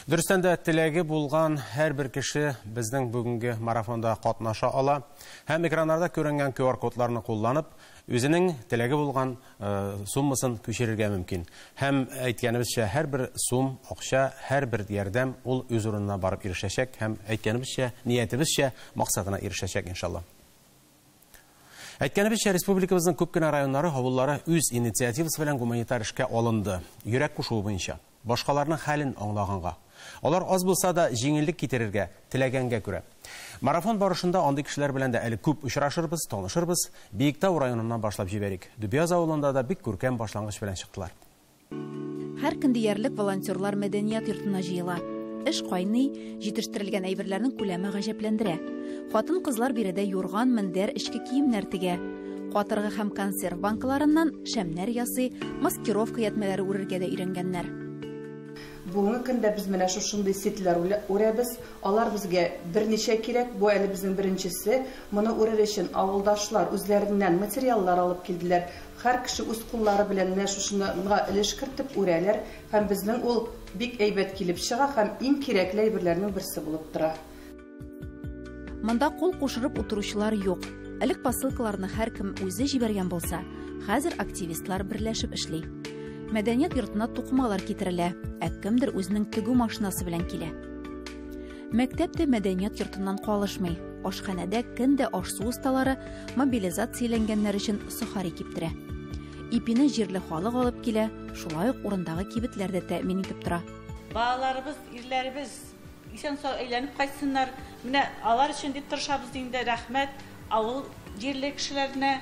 Дөрестән дә, теләге булган һәрбер кеше безнең бүгенге марафонда катнаша ала һәм экраннарда күренгән QR-кодларны кулланып, үзенең теләге булган суммасын күчерергә мөмкин. Һәм, әйткәнебезчә, һәрбер сум, акча, һәрбер ярдәм ул үз урынына барып ирешәчәк һәм, әйткәнебезчә, ниятебезчә, максатына ирешәчәк, иншалла. Әйткәнебезчә, республикабызның күп кенә районнары, авыллары үз инициативасы белән гуманитар эшкә алынды, йөрәк кушуы буенча. Башкаларның хәлен аңлаганга. Алар аз булса да җиңеллек китерергә теләгәнгә күрә. Марафон барышында андый кешеләр белән дә әле күп очрашырбыз, танышырбыз. Биектау районыннан башлап җибәрик. Дөбяз авылында да бик күркәм башлангыч белән чыктылар. Һәр көн диярлек волонтерлар мәдәният йортына җыела. Эш кайный. Җитештерелгән әйберләрнең күләме гаҗәпләндерә. Хатын-кызлар биредә юрган, мендәр, эчке киемнәр тегә. Катыргы һәм консерв банкаларыннан шәмнәр ясый, маскировка ятьмәләре үрергә дә өйрәнгәннәр. Бүгенге көндә без менә шушындый сетьләр үрәбез. Алар безгә берничә кирәк. Бу әле безнең беренчесе. Моны үрер өчен авылдашлар үзләреннән материаллар алып килделәр. Һәр кеше үз куллары белән менә шушынырга өлеш кертеп үрәләр. Һәм безнең ул бик әйбәт килеп чыга һәм иң кирәкле әйберләрнең берсе булып тора. Монда кул кушырып утыручылар юк. Элек посылкаларны һәркем үзе җибәргән булса, хәзер активистлар берләшеп эшли. Мәдәният йортына тукымалар китерелә, ә кемдер үзенең тегү машинасы белән килә. Мәктәп тә мәдәният йортыннан калышмый. Ашханәдә кем дә аш-су осталары, мобилизацияләнгәннәр өчен сухари киптерә. Ипине җирле халык алып килә, шулай ук урындагы кибетләр дә тәэмин итеп тора. Балаларыбыз, ирләребез исән-сау әйләнеп кайтсыннар. Менә алар өчен дип тырышабыз инде. Рәхмәт авыл җирле кешеләренә.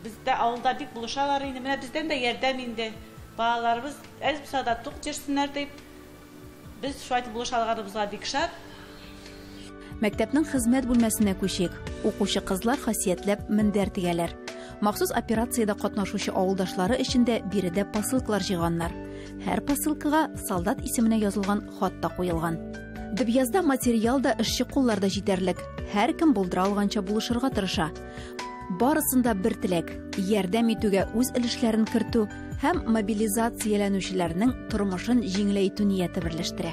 Бездә авылда бик булышалар инде. Менә бездән дә ярдәм инде. Балаларыбыз әз булса да тук йөрсеннәр дип. Без шулай итеп булыша алганыбызга бик шат. Мәктәпнең хезмәт бүлмәсенә күчик. Укучы кызлар хасиятләп мендәр тегәләр. Махсус операциядә катнашучы авылдашлары өчен дә биредә посылкалар җыйганнар. Һәр посылкага солдат исеменә язылган хат та куелган. Дбязда материал да, эшче куллар да җитәрлек. Һәркем булдыра алганча булышырга тырыша. Барысын да бер теләк, ярдәм итүгә үз өлешләрен кертү һәм мобилизацияләнүчеләрнең тормышын җиңеләйтү нияте берләштерә.